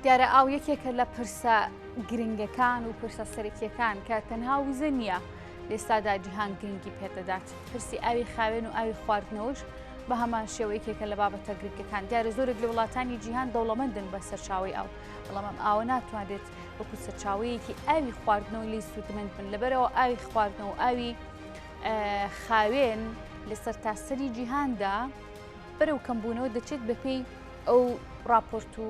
دیارە ئاو یەکێکە لە پرسە گرنگەکان و پرسە سەرەکیەکان کە تەنها وزە نییە لێستادا جیهان گرنگی پێدەدات پرسی ئاوی خاوێن و ئاوی خواردنەوەش بە هەمان شێوەیەکێکە لە بابەتە گرنگەکان دیارە زۆرێک لە وڵاتانی جیهان دەوڵەمەندن بە سەرچاوی ئەو بەڵام ئاوە ناتوانێت وەکو سەرچاوەیەکی ئاوی خواردنەوە لی سوودمەند بن لەبەرەوە ئاوی خواردنەوە ئاوی خاوێن لەسەر تاسەری جیهاندا بەرەو کەمبوونەوە دەچێت بەپێی ئەو ڕاپۆرت و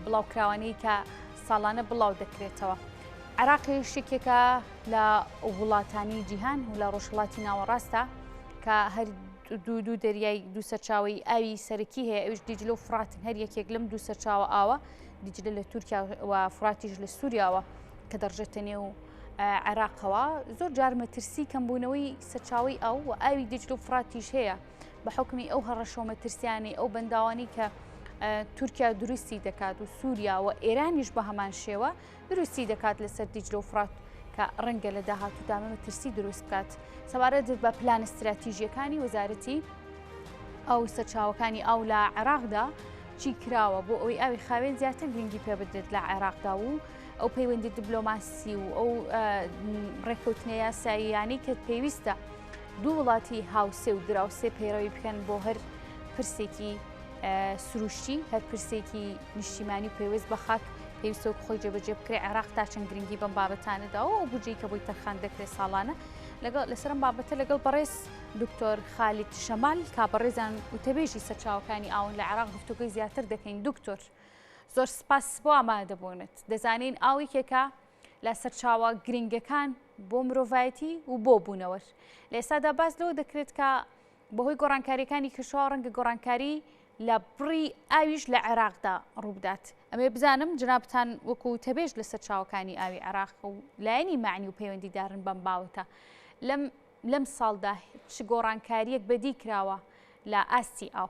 بڵاوکراوانەی کە ساڵانە بڵاو دەکرێتەوە عراقی شتێکێکە لە وڵاتانی جیهان و لە ڕۆژهڵاتی ناوەڕاستە کە هەر دوو دوو دەریای دوو سەرچاوی ئاوی سەرەکی هەیە ئەوش دیجل و فرات هەر یەکێک لەم دوو سەرچاوە ئاوە دیجلە لە تورکیا و فراتیش لە سووریاوە کە دەڕژێتە نێو عێراقەوە زۆر جار مەترسی کەمبوونەوەی سەرچاوی ئەو و ئاوی دیجل و فراتیش هەیە بە حکمی ئەو هەڕەشەوە مەترسیانەی ئەو بەنداوانی کە تورکیا دروستی دەکات و سووریا و ئێرانیش بە هەمان شێوە دروستی دەکات لەسەر دیجلۆ فرات کە ڕەنگە لە داهات و دامە مەترسی دروست بکات سەبارەت بە پلانە استراتیژیەکانی وەزارەتی ئەو سەرچاوەکانی ئاو لە عێراقدا چی کراوە بۆ ئەوی ئاوی خاوێن زیاتر گرنگی پێ بدرێت لە عێراقدا و ئەو پەیوەندی دیبلۆماسی و ئەو ڕێککەوتنە یاساییانەی کە پێویستە دوو وڵاتی هاوسێ و دراوسێ پەیڕەوی بکەن بۆ هەر پرسێکی سروشتی هەر پرسێکی نیشتیمانی پێویست بە خاک پێویستە خۆی جێبەجێ بکرێ عێراق تا چەند گرنگی بەم بابەتانەداەوە و بجی کە بۆی تەرخان دەکرێت ساڵانە لەگەڵ لەسەرم بابەتە لەگەڵ بەڕێز دکتۆر خالیت شەمال کا بەڕێزان وتەبێژی سەرچاوەکانی ئاون لە عراق گفتوگەی زیاتر دەکەین دکتۆر زۆر سپاس بۆ ئامادەبوونت دەزانین ئاویکێکە لە سەرچاوە گرنگەکان بۆ مرۆڤایەتی و بۆ بوونەوەر لە ئێستادا باس لەوە دەکرێت کە بەهۆی گۆڕانکاریەکانی کەشەوە ڕەنگە گۆڕانکاری لە بڕی ئاویش لە عێراقدا ڕووبدات ئەمێ بزانم جنابتان وەکو تەبێژ لە سەرچاوەکانی ئاوی عێراق و لایەنی معنی و پەیوەندیدارن بەم باوەتە لەم لەم ساڵدا چ گۆڕانکاریەک بەدی کراوە لە ئاستی ئاو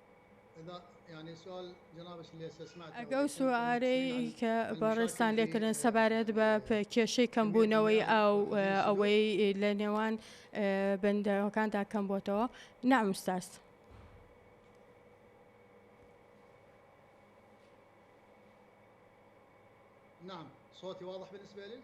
ئەگەر ئەو سوارەی کە بەڕێزتان لێکردن سەبارەت بە کێشەی کەمبوونەوەی ئاو ئەوەی لە نێوان بەندەکاندا کەم بۆتەوە نامستاس. نعم صوتي واضح بالنسبة لك؟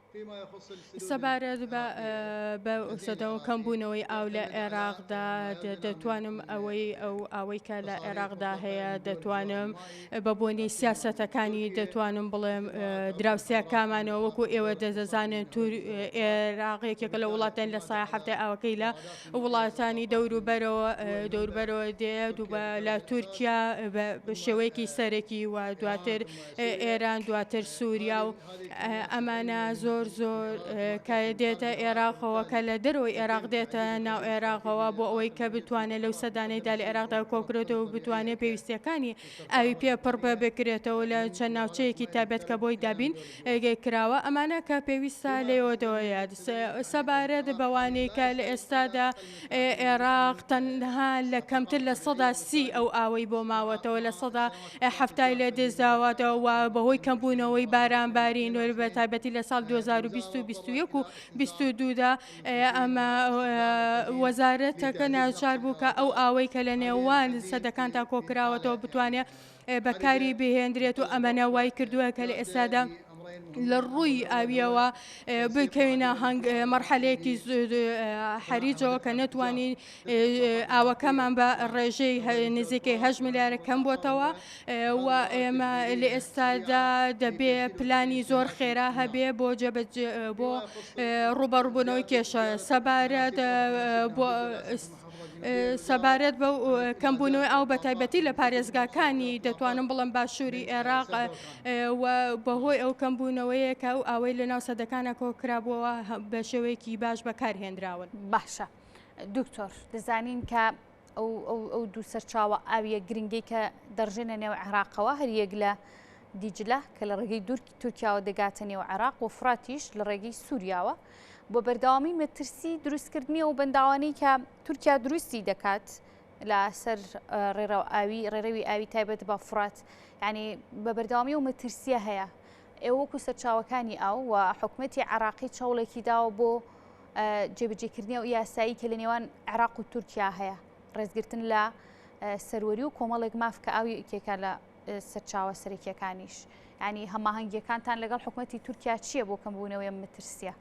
سەبارەت بە سەدەو کەم بوونەوەی ئاو لە عێراقدا دەتوانم ئەوەی ئەو ئەوەی کە لە عێراقدا هەیە دەتوانم بە بۆنی سیاسەتەکانی دەتوانم بڵێم دراوسیا کامانەوە وەکو ئێوە دەزانن تور عێراقێکێکە لە وڵاتەن لە سای هەفتە ئاوەکەی لە وڵاتانی دەوروبەرەوە دەوربەرەوە دێ دووبە لە تورکیا بە شێوەیەکی سەرەکی و دواتر ئێران دواتر سووریا و ئەمانە زۆر زۆر کە دێتە ئێراقەوە کە لە دەرەوەی ئێراق دێتە ناو ئێراقەوە بۆ ئەوەی کە بتوانێت لەو سەدانەیدا لە عێراقدا کۆکرێتەوە بتوانێت پێویستیەکانی ئاوی پێ پڕ بە بکرێتەوە لە چەند ناوچەیەکی تابێت کە بۆی دابین کراوە ئەمانە کە پێویستە لەوەدەوەیە سەبارەت بەوانەی کە لە ئێستادا عێراق تەنها لە کەمتر لە سەدا سی ئەو ئاوەی بۆ ماوەتەوە لە سەدا حەفتای لێ دزاواتەوە و بەهۆی کەمبوونەوەی بارانباری نوێر بە تایبەتی لە ساڵ 2021 و 22دا ئەمە وەزارەتەکە ناوچار بوو کە ئەو ئاوەی کە لە نێوان سەدەکانتا کۆکراوەتەوە بتوانێت بەکاری بهێندرێت و ئەمەە وای کردووە کە لە ئێستادا لە ڕووی ئاویەوە بکەوینە هەنگ مەرحەلەیەکی حەریجەوە کە نەتوانین ئاوەکەمان بە ڕێژەی نزیکەی هە ملیارە کەم بۆتەوە و ئێمە لە ئێستادا دەبێ پلانی زۆر خێرا هەبێ بۆ جەبەت بۆ ڕوبەڕبوونەوەی کێشە سەبارەت بۆ ئست سەبارەت بە کەمبوونەوەی ئاو بە تایبەتی لە پارێزگاکانی دەتوانم بڵم باشووری عێراق بەهۆی ئەو کەمبوونەوەیە کە ئەو ئەوەی لە ناو سەدەکانە کۆکرابووەوە بە شێوەیەکی باش بەکارهێنراون باشە دکتۆر دەزانین کە ئەو دوو سەرچاوە ئاویە گرنگی کە دەڕژێنە نێو عێراقەوە هەر یەک لە دیجلە کە لە ڕێگەی دوورکی تورکیاوە دەگاتە نێو عێراق و فراتیش لە ڕێگەی سووریاوە بۆ بەردەوامی مەترسی دروستکردنی ئەو بەنداوانەی کە تورکیا دروستی دەکات لە سەر ڕێڕەو ئاوی ڕێڕەوی ئاوی تایبەت بە فرات ینی بە بەردەوامی و مەترسیە هەیە ئێوەکو سەرچاوەکانی ئاو و حکومەتی عراقی چاوڵێکی داوە بۆ جێبجێکردنی و یاسایی کە لە نێوان عراق و تورکیا هەیە ڕێزگرتن لە سەروەری و کۆمەڵێک ماف کە ئاوی ئکێکە لە سەرچاوە سەرەکیەکانیش ینی هەماهەنگیەکانتان لەگەڵ حکوومەتتی تورکیا چییە بۆ کەمبوونەوەی مترسیە؟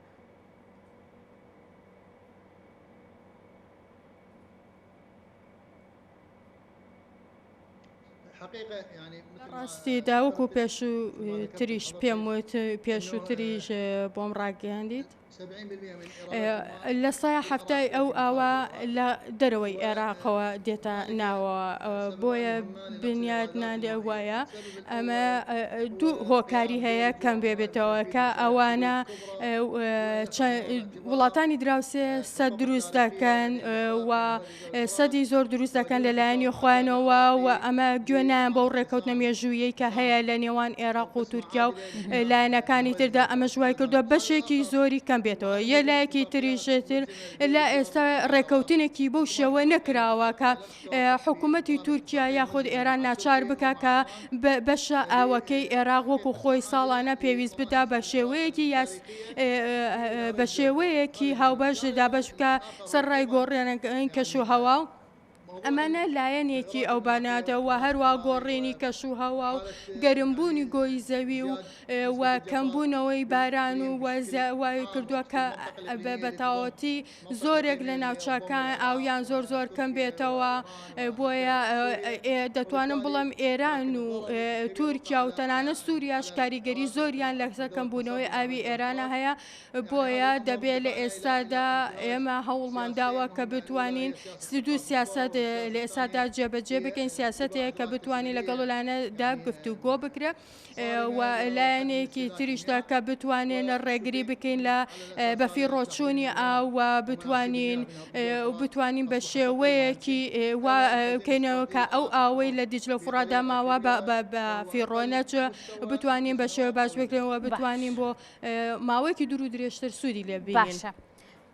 ڕاستی داوک و پێشوو تریش پێم وت پێشووتریش بۆم ڕاگەیاندیت لە سەیا حەفتای ئەو ئاوە لە دەرەوەی عێراقەوە دێتە ناوە بۆیە بنیاد نادێ وایە ئەمە دوو هۆکاری هەیە کەم بێ بێتەوە کە ئەوانە وڵاتانی دراوسێ سە دروست دەکەن و سەدی زۆر دروست دەکەن لە لایەنی خۆیانەوە و ئەمە گوێ نایان بەو ڕێککەوتنە مێژوویی کە هەیە لە نێوان ئێراق و تورکیا و لایەنەکانی تردا ئەمە ژوای کردو بەشێکی زۆری کەم بێتەوە یە لایەکی تریژێتر لە ئێستا ڕێککەوتنێکی بەو شێوە نەکراوە کە حکوومەتتی تورکیا یاخود ئێران ناچار بکە کە بەشە ئاوەکەی ئێراق وەکو خۆی ساڵانە پێویست بدا بە شێوەیەکی یاس بە شێوەیەکی هاوبەش دابش بکە سەرڕای گۆڕێنەکانی کەشوهەوا و ئەمانە لایەنێکی ئەو بانادە و هەروە گۆڕێنی کەش و هەوا و گەرمبوونی گۆی زەوی و و کەمبوونەوەی باران و وای کردووە کە بەتاوەتی زۆرێک لە ناوچەکان ئاویان زۆر زۆر کەم بێتەوە بۆیە دەتوانم بڵم ئێران و تورکیا و تەنانە سووریاش کاریگەری زۆریان لەسەر کەمبوونەوەی ئاوی ئێرانە هەیە بۆیە دەبێت لە ئێستادا ئێمە هەوڵمان داوە کە بتوانین دوو سیاست لە ئێستادا جێبەجێ بکەین سیاستەیە کە بتوانین لەگەڵ لایەنەدا گفتو گۆ بکرێ و لایەنێکی تریشدا کە بتوانێن ڕێگری بکەین لە بەفی ڕۆچوونی ئاوە بتوانین بتوانین بە شێوەیەکی بکەینەوە کە ئەو ئاوەی لە دیجلە فڕادا ماوە بە فیڕۆنەچ بتوانین بە شێوە باش بکرێنەوە بتوانین بۆ ماوەیەکی دوور و درێژتر سوودی لێ باشە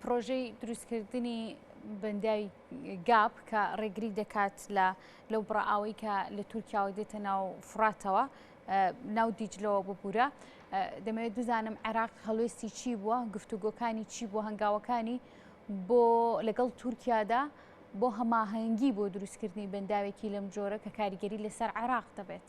پرۆژەی دروستکردنی بەندای گاپ کە ڕێگری دەکات لە لەو بڕئاوەی کە لە تورکیاوە دێتە ناو فراتەوە ناو دیجلەوە ببوورە دەمەوێت بزانم عێراق هەڵوێستی چی بووە گفتوگۆکانی چی بۆ هەنگاوەکانی بۆ لەگەڵ تورکیادا بۆ هەماهەنگی بۆ دروستکردنی بەنداوێکی لەم جۆرە کە کاریگەری لەسەر عێراق دەبێت.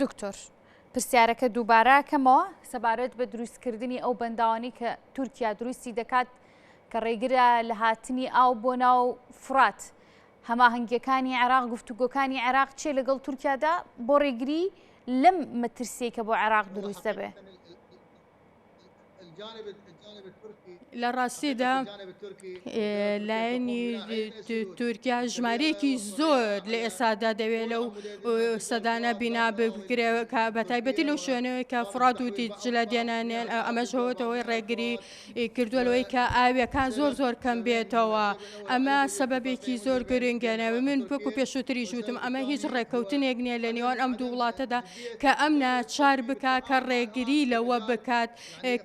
دکتۆر پرسیارەکە دووباراکەمەوە سەبارەت بە دروستکردنی ئەو بەنداوانی کە تورکیا دروستی دەکات کە ڕێگرە لە هاتنی ئاو بۆ ناو فرات هەماهنگگیەکانی عێراق گفتوگۆکانی عێراق چێ لەگەڵ تورکیادا بۆ ڕێگری لەم مەترسیە کە بۆ عێراق دروست دەبێت. لە ڕاستیدا لایەنی تورکیا ژمارەیەکی زۆر لە ئێسادا دەوێت لەو سەدانە بینا بکرێ بە تایبەتی لەو شوێنەوەی کە فڕات و دیجلە دێنانێن ئەمەش هەوەتەوەی ڕێگری کردووە لەوەی کە ئاویەکان زۆر زۆر کەم بێتەوە ئەمە سەبەبێکی زۆر گرنگێنەوە من پێکو پێشووتری ژوتم ئەمە هیچ ڕێککەوتنێک نییە لە نێوان ئەم دوو وڵاتەدا کە ئەم ناچار بکا کە ڕێگری لەوە بکات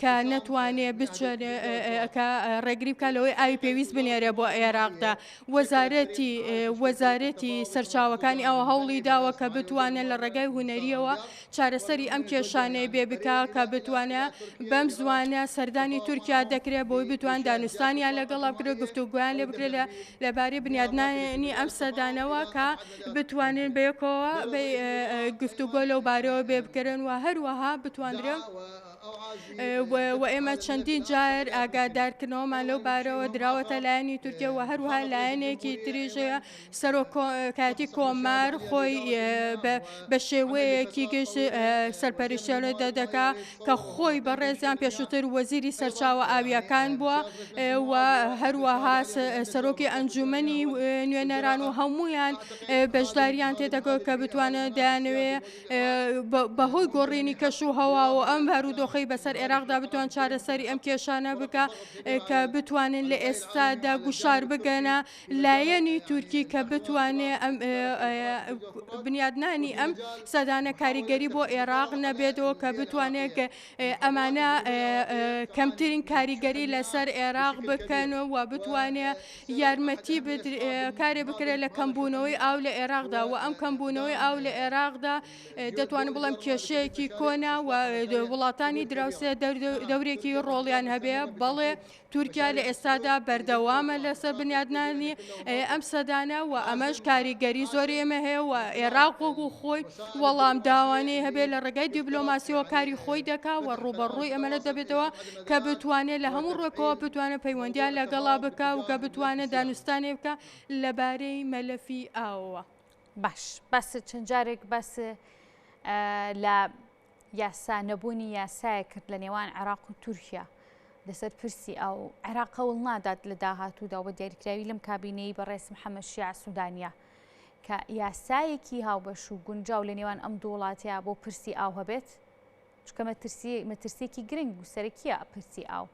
کە نەتوانێ بچێنێکە ڕێگری بکە لەوەی ئاوی پێویست بنێرێ بۆ عێراقدا وەزارەتی وەزارەتی سەرچاوەکانی ئەوە هەوڵی داوە کە بتوانێت لە ڕێگای هوەریەوە چارەسەری ئەم کێشانەی بێ بکە کە بتوانە بەم زوانە سەردانی تورکیا دەکرێت بۆی بتوان دانوستانیان لەگەڵا بکرێت گفتوگویان لێ بکرێت لە لەبارەی بنیادنانی ئەم سەدانەوە کە بتوانن بەیەکەوە گفتوگۆ لەو بارەوە بێ بکەن و هەروەها بتوانرێ و ئێمە چەندین جار ئاگادارکردنەوەمان لەو بارەوە دراوەتە لایەنی تورکیا و هەروها لایەنێکی تریژەیە سەرۆکاتی کۆمار خۆی بە شێوەیەکی گشت سەرپەرشتێڵێ دەدەکا کە خۆی بەڕێزیان پێشووتر وەزیری سەرچاوە ئاوییەکان بووە و هەروەها سەرۆکی ئەنجومنی نوێنەران و هەمویان بەشداریان تێدەکەوت کە بتوانن دەیانوێ بەهۆی گۆڕینی کەش و هەوا و ئەم بارودۆخی بەسەر عێراقدا بتوان چارەسەری ئەم کێشانە بکە کە بتوانن لە ئێستادا گوشار بگەنە لایەنی تورکی کە بتوانێ بنیادنانی ئەم سەدانە کاریگەری بۆ ئێراق نەبێتەوە کە بتوانێت ئەمانە کەمترین کاریگەری لەسەر ئێراق بکەن و بتوانێت یارمەتی کارێ بکرێت لە کەمبوونەوەی ئاو لە ئێراقدا و ئەم کەمبوونەوەی ئاو لە ئێراقدا دەتوانم بڵم کێشەیەکی کۆنا و وڵاتانی دراوسێ دەورێکی ڕۆڵیان هەبێ بەڵێ تورکیا لە ئێستادا بەردەوامە لەسەر بنیادنانی ئەم سەدانە و ئەمەش کاریگەری زۆری ئێمە هەیە و ئێراق وەگو خۆی وەڵام داوانەی هەبێ لە ڕێگای دیبلۆماسیەوە کاری خۆی دەکا و ڕوبەڕووی ئەمەە دەبێتەوە کە بتوانێت لە هەموو ڕێکەوە بتوانە پەیوەندیان لەگەڵا بکە و کە بتوانێت دانوستانێ بکە لەبارەی مەلەفی ئاوەوە باش بەس چەند جارێک بەس لە یاسا نەبوونی یاسایەک کرد لە نێوان عێراق و تورکیا لەسەر پرسی ئاو عێراق هەوڵ نادات لە داهاتوودا و بە دیاریکراوی لەم کابینەی بەڕێز محەممەد شیاع سوودانیا کە یاسایەکی هاوبەش و گونجاو لە نێوان ئەم دوو وڵاتە بۆ پرسی ئاو هەبێت چونکە مەترسی مەترسیەکی گرنگ و سەرەکیە پرسی ئاو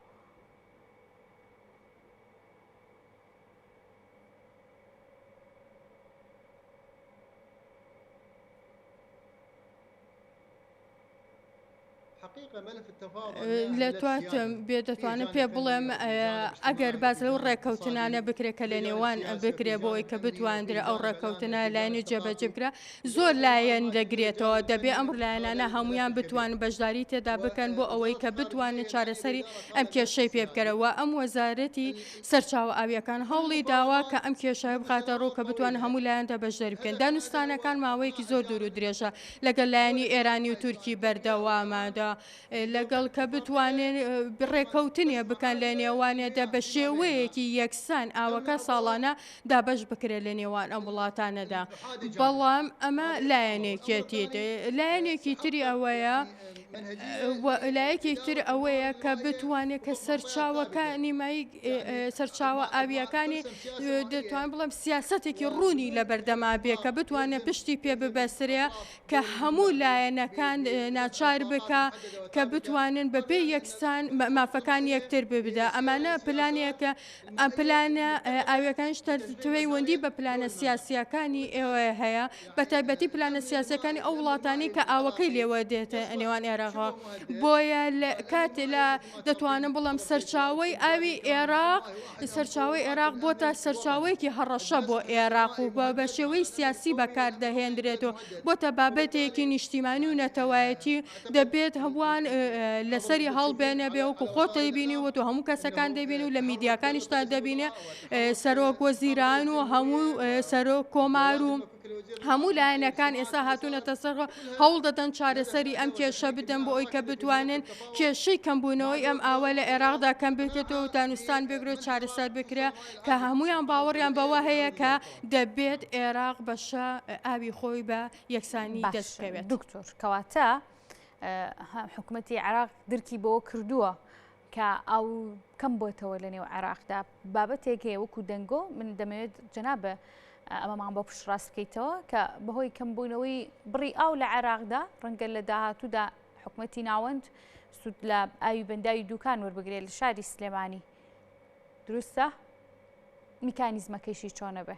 لە تواتم بێ دەتوانم پێ بڵێم ئەگەر باز لەو ڕێککەوتنانە بکرێت کە لە نێوان بکرێ بۆی کە بتواندرێ ئەو ڕێککەوتنە لایەنی جێبەجبکرا زۆر لایەن دەگرێتەوە دەبێ ئەم لایەنانە هەمویان بتوان بەشداری تێدا بکەن بۆ ئەوەی کە بتوانن چارەسەری ئەم کێشەی پێ بکەرەوە ئەم وەزارەتی سەرچاوە ئاوییەکان هەوڵی داوە کە ئەم کێشەیە بخاتە ڕوو کە بتوانن هەموو لایەندا بەشدەری بکەن. دانوستانەکان ماوەیەکی زۆر دوور و درێژە لەگەل لایەنی ئێرانی و تورکی بەردەوامە لەگەڵ کە بتوانن ڕێکەوتنێ بکەن لە نێوانێدا بە شێوەیەکی یەکسان ئاوەکە ساڵانە دابەش بکرێت لە نێوان ئەم وڵاتانەدا بەڵام ئەمە لایەنێکێتی لایەنێکی تری ئەوەیە لایەکی تر ئەوەیە کە بتوانێت کە سەرچاوەکە نیمایی سەرچاوە ئاویەکانی دەتوان بڵم سیاستێکی ڕوونی لە بەردەما بێ کە بتوانێت پشتی پێ ببەسرێ کە هەموو لایەنەکان ناچار بکە کە بتوانن بەپێ یەکسان مافەکان یەکتر ببدا ئەمانە پلانەکە ئەم پلانە ئاویەکانش تەرپەیوەندی بە پلانە سیاسیەکانی ئێوە هەیە بە تایبەتی پلانە سیاسەکانی ئەو وڵاتانی کە ئاوەکەی لێوە دێت ئەنێوان ئێراغا بۆیە کاتێ لە دەتوانم بڵم سەرچاوی ئاوی ئێراق سەرچاوی ئێراق بۆ تا سەرچاوەیەکی هەڕەشە بۆ ئێراق و بە بە شێوەی سیاسی بەکاردەهێندرێت و بۆ تە بابەتێکی نیشتیمانی و نەتەوایەتی دەبێت هەمووان لەسەری هەڵبێنە بێ وەکو خۆت دەیبینی وە تۆ هەموو کەسەکان دەبین و لە میدیاکانیشتا دەبینێ سەرۆک وە زیران و هەموو سەرۆک کۆمار و هەموو لایەنەکان ئێستا هاتوونەتە سەر هەوڵ دەدەن چارەسەری ئەم کێشە بدەن بۆ ئەوی کە بتوانن کێشەی کەمبوونەوەی ئەم ئاوە لە عێراقدا کەم بکرێتەوە دانوستان بگرێ چارەسەر بکرێ کە هەمویان باوەڕیان بەوە هەیە کە دەبێت عێراق بەشە ئاوی خۆی بە یەکسانی دەستکەوێت دکتۆر کەواتە حکوومەتتی عراق درکی بەوە کردووە کە ئەو کەم بۆتەوە لە نێو عێراقدا بابەتێک هەیە وەکو دەنگۆ من دەمەوێت جەنابە ئەمەمان بۆ پشتڕاست بکەیتەوە کە بەهۆی کەم بوونەوەی بڕی ئاو لە عێراقدا ڕەنگە لە داهاتوودا حکوومەتتی ناوەند سوود لە ئاوی بەنداوی دوکان وەربگرێت لە شاری سلێمانی دروستە میکانیزمەکەیشی چۆنە بێ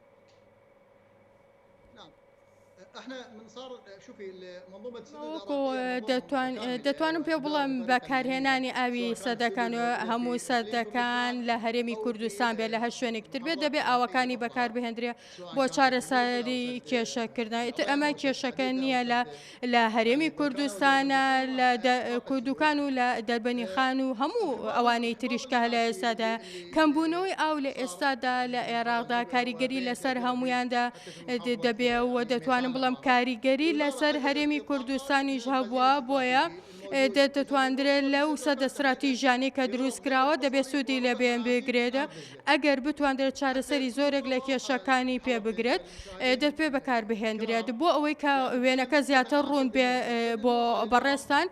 دەتوانم پێ بڵم بەکارهێنانی ئاوی سەدەکان و هەموو سەدەکان لە هەرێمی کوردستان بێت لە هەر شوێنێکتر بێت دەبێت ئاوەکانی بەکار بهێندرێ بۆ چارەسەری کێشەکردن ئیتر ئەمە کێشەکە نییە لە لە هەرێمی کوردستانە لە کوردوکان و لە دەربەنی خان و هەموو ئەوانەی تریشکە لە ئێستادا کەمبوونەوەی ئاو لە ئێستادا لە عێراقدا کاریگەری لەسەر هەمویاندا دەبێ و دەتوانم بڵم کاریگەری لەسەر هەرێمی کوردستانیش هەبووە بۆیە دەتواندرێت لەو سەدە استراتیژانەی کە دروست کراوە دەبێت سوودی لە بێن بگرێتە ئەگەر بتواندرێت چارەسەری زۆرێک لە کێشەکانی پێ بگرێت دەرپێ بەکار بهێندرێت بۆ ئەوەی کە وێنەکە زیاتر ڕوون بێ بۆ بەڕێستان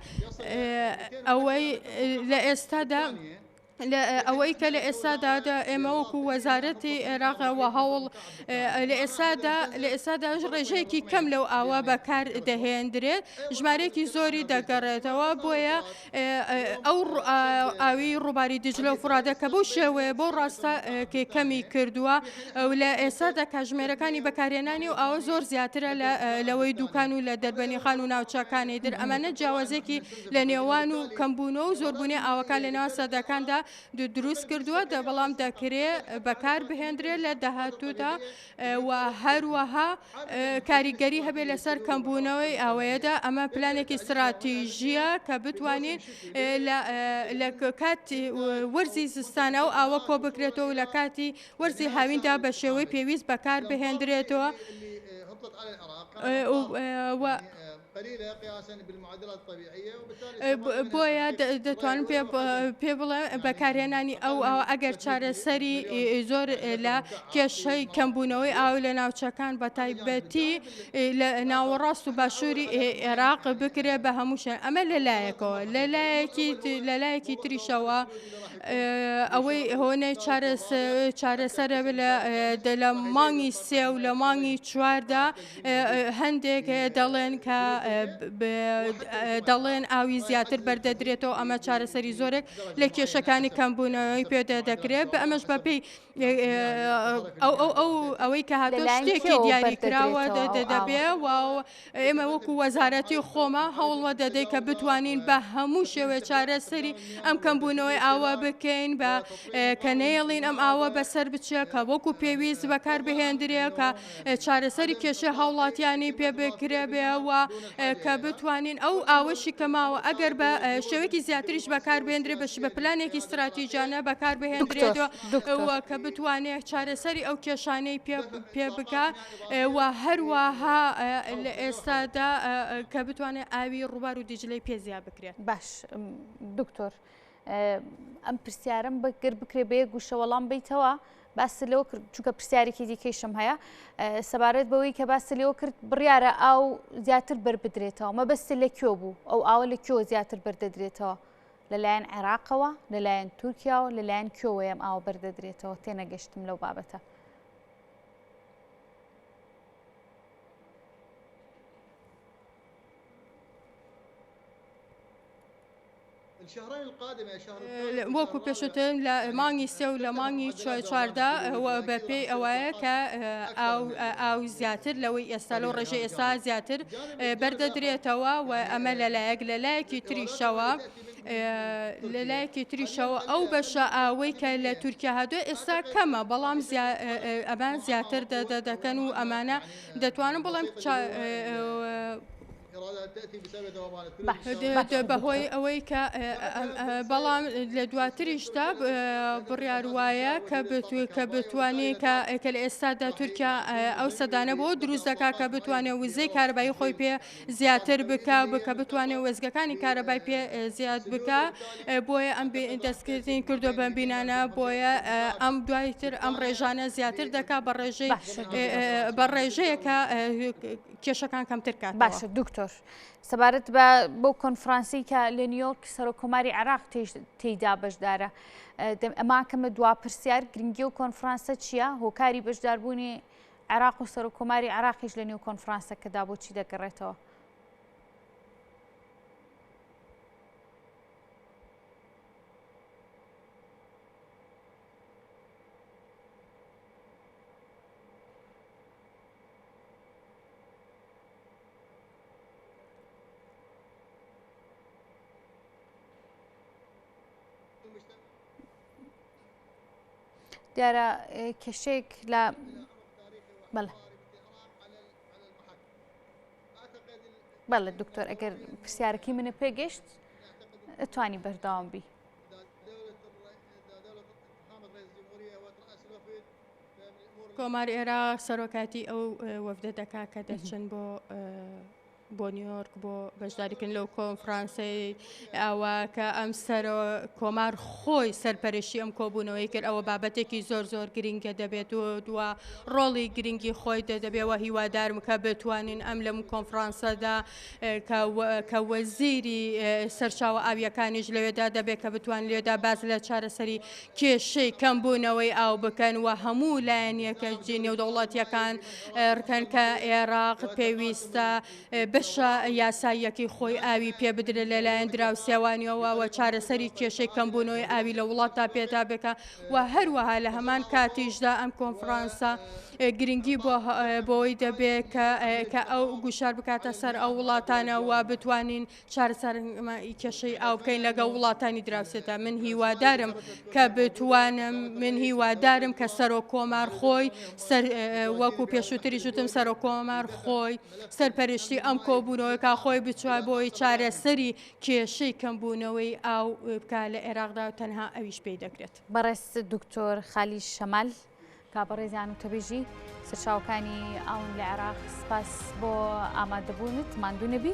ئەوەی لە ئێستادا ئەوەی کە لە ئێستادا ئێمە وەکو وەزارەتی عێراقەوە هەوڵ لە ئێستادا لە ئێستادا ڕێژەیەکی کەم لەو ئاوا بەکار دەهێندرێت ژمارەیەکی زۆری دەگەڕێتەوە بۆیە ئەو ئاوی ڕووباری دیجلە و فڕادە کە بەو شێوەیە بۆ ڕاستە کێ کەمی کردووە و لە ئێستادا کاژمێرەکانی بەکارێنانی و ئەوە زۆر زیاترە لەوەی دوکان و لە دەربەنیخان و ناوچەکانی در ئەمانە جیاوازێکی لە نێوان و کەمبوونەوە و زۆربوونی ئاوەکان لە ناو سەدەکاندا دروست کردووە دە بەڵام دەکرێ بەکار بهێندرێت لە داهاتوودا و هەروەها کاریگەری هەبێت لەسەر کەمبوونەوەی ئاوەیەدا ئەمە پلانێکی استراتیژیە کە بتوانین لە کاتی وەرزی زستانە و ئاوە کۆ بکرێتەوە لە کاتی وەرزی هاویندا بە شێوەی پێویست بەکار بهێندرێتەوە. بۆیە دەتوانم پێ بڵێ بەکارهێنانی ئەو ئەو ئەگەر چارەسەری زۆر لە کێشەی کەمبوونەوەی ئاو لە ناوچەکان بە تایبەتی لە ناوەڕاست و باشووری عێراق بکرێ بە هەمووشێن ئەمە لەلایەکەوە لەلایەکی لەلایەکی تریشەوە ئەوەی هۆنەی چارەسەرە لە دە لە مانگی سێ و لە مانگی چواردا هەندێک دەڵێن کە دەڵێن ئاوی زیاتر بەردەدرێتەوە ئەمە چارەسەری زۆرێک لە کێشەکانی کەمبوونەوەی پێدە دەکرێت بە ئەمەش بەپی ئەو ئەو ئەو ئەوەی کە هاتۆ شتێکی دیاری کراوە دەبێ و ئێمە وەکو وەزارەتی خۆمە هەوڵوە دەدەی کە بتوانین بە هەموو شێوێ چارەسەری ئەم کەمبوونەوەی ئاوە بکەین بە کە نێڵین ئەم ئاوە بەسەر بچە کە وەکو پێویست بەکار بهێندرێ کە چارەسەری کێشەی هاوڵاتیانی پێ بکرێبێ و کە بتوانین ئەو ئاوەشی کە ماوە ئەگەر بە شێوەیەکی زیاتریش بەکار بێندرێ بەش بە پلانێکی استراتیژانە بەکار بهێندرێتەوە دکتەوە کە بتوانێت چارەسەری ئەو کێشانەی پێ بکە و هەروەها لە ئێستادا کە بتوانێت ئاوی ڕووبار و دیجلەی پێزیا بکرێت باش دکتۆر. ئەم پرسیارم بەگەر بکرێ بە یەک گوشە وەڵام بیتەوە باست لەوە کرد چونکە پرسیارێکی دیکەیشم هەیە سەبارەت بەوەی کە باست لەوە کرد بڕیارە ئاو زیاتر بربدرێتەوە مەبەست لە کوێ بوو ئەو ئاوە لە کوێ زیاتر بردەدرێتەوە لەلایەن عێراقەوە لەلایەن تورکیاوە لەلایەن کوێوەیەم ئاوە بردەدرێتەوە تێنەگەشتم لەو بابەتە. وەکو پێشوتر لە مانگی سێ و لە مانگی چواردا بە پێی ئەوەیە کە ئاو زیاتر لەوەی ئێستا لەو ڕێژە ئێستا زیاتر بەردەدرێتەوە و ئەمە لەلایەک لەلایەکی تریشەوە لەلایەکی تریشەوە ئەو بەشە ئاوەی کە لە تورکیا هادووە ئێستا کەمە بەڵام ئەمان زیاتر دەدەکەن و ئەمانە دەتوانن بڵێم بەهۆی ئەوەی کە بەڵام لە دواتریشدا بڕیار وایە کە بتوێت کە بتوانێت کە ئەکە لە ئێستادا تورکیا ئەو سەدانە بۆ دروست دەکا کە بتوانێت وزەی کاربایی خۆی پێ زیاتر بکە بکە بتوانێت وێزگەکانی کارەبای پێ زیاد بکە بۆیە ئەم دەستکردین کردو بەم بینانە بۆیە ئەم دوایتر ئەم ڕێژانە زیاتر دەکا بە ڕێژەی بە ڕێژەیەکە کێشەکان کەمتر کات باشە دکتۆر سەبارەت بە بۆ کۆنفرانسی کە لە نیویۆرک سەرۆک کۆماری عراق تێیدا بەشدارە ئەما کەمە دوا پرسیار گرنگی و کۆنفرانسە چییە هۆکاری بەشداربوونی عراق و سەرۆک کۆماری عراقیش لە نیو کۆنفرانسەکەدا بۆچی دەگەڕێتەوە دیارە کێشێک لە بەڵێ بەڵێ دکتۆر ئەگەر پرسیارەکەی منە پێگەشت ئەتوانی بەرداوام بی کۆماری عێراق سەرۆکاتی ئەو وەفدە دەکا کە دەچن بۆ بۆ نیویۆرک بۆ بەشداریکن لەو کۆنفرانسی ئەوە کە ئەم سەر کۆمار خۆی سەرپەرشی ئەم کۆبوونەوەی کرد ئەوە بابەتێکی زۆر زۆر گرنگە دەبێت و دووە ڕۆڵی گرنگی خۆی دەدەبێەوە هیوادارم کە بتوانین ئەم لەم کۆنفرانسەدا کە وەزیری سەرچاوە ئاویەکانیش لەوێدا دەبێت کە بتوان لێدا باز لە چارەسەری کێشەی کەمبوونەوەی ئاو بکەن و هەموو لایەن یەکەجی نێودەوڵەتیەکان رکەن کە ئێراق پێویستە بەشە یاساییەکەی خۆی ئاوی پێ بدرێت لەلایەن دراوسێوانیەوە و چارەسەری کێشەی کەمبوونەوەی ئاوی لە وڵاتدا پێدا بکە و هەروەها لە هەمان کاتیشدا ئەم کۆنفرانسە گرنگی بۆ بۆی دەبێت کە کە ئەو گوشار بکاتە سەر ئەو وڵاتانەوە بتوانین چارەسەرنمایی کێشەی ئاو بکەین لەگە وڵاتانی دراوسێدا من هیوادارم کە بتوانم من هیوادارم کە سەرۆک کۆمار خۆی وەکو پێشووتری شتم سەرۆک کۆمار خۆی سەرپەرشتی ئەم کۆبوونەوەکە خۆی بچوە بۆی چارەسەری کێشەی کەمبوونەوەی ئاو بکە لە عێراقدا و تەنها ئەویش پێی دەکرێت بەڕێز دکتۆر خالی شەمال کابڕێزیان و تەبێژی سەرچاوکانی ئاون لە عێراق سپاس بۆ ئامادەبوونت ماندوو نەبی.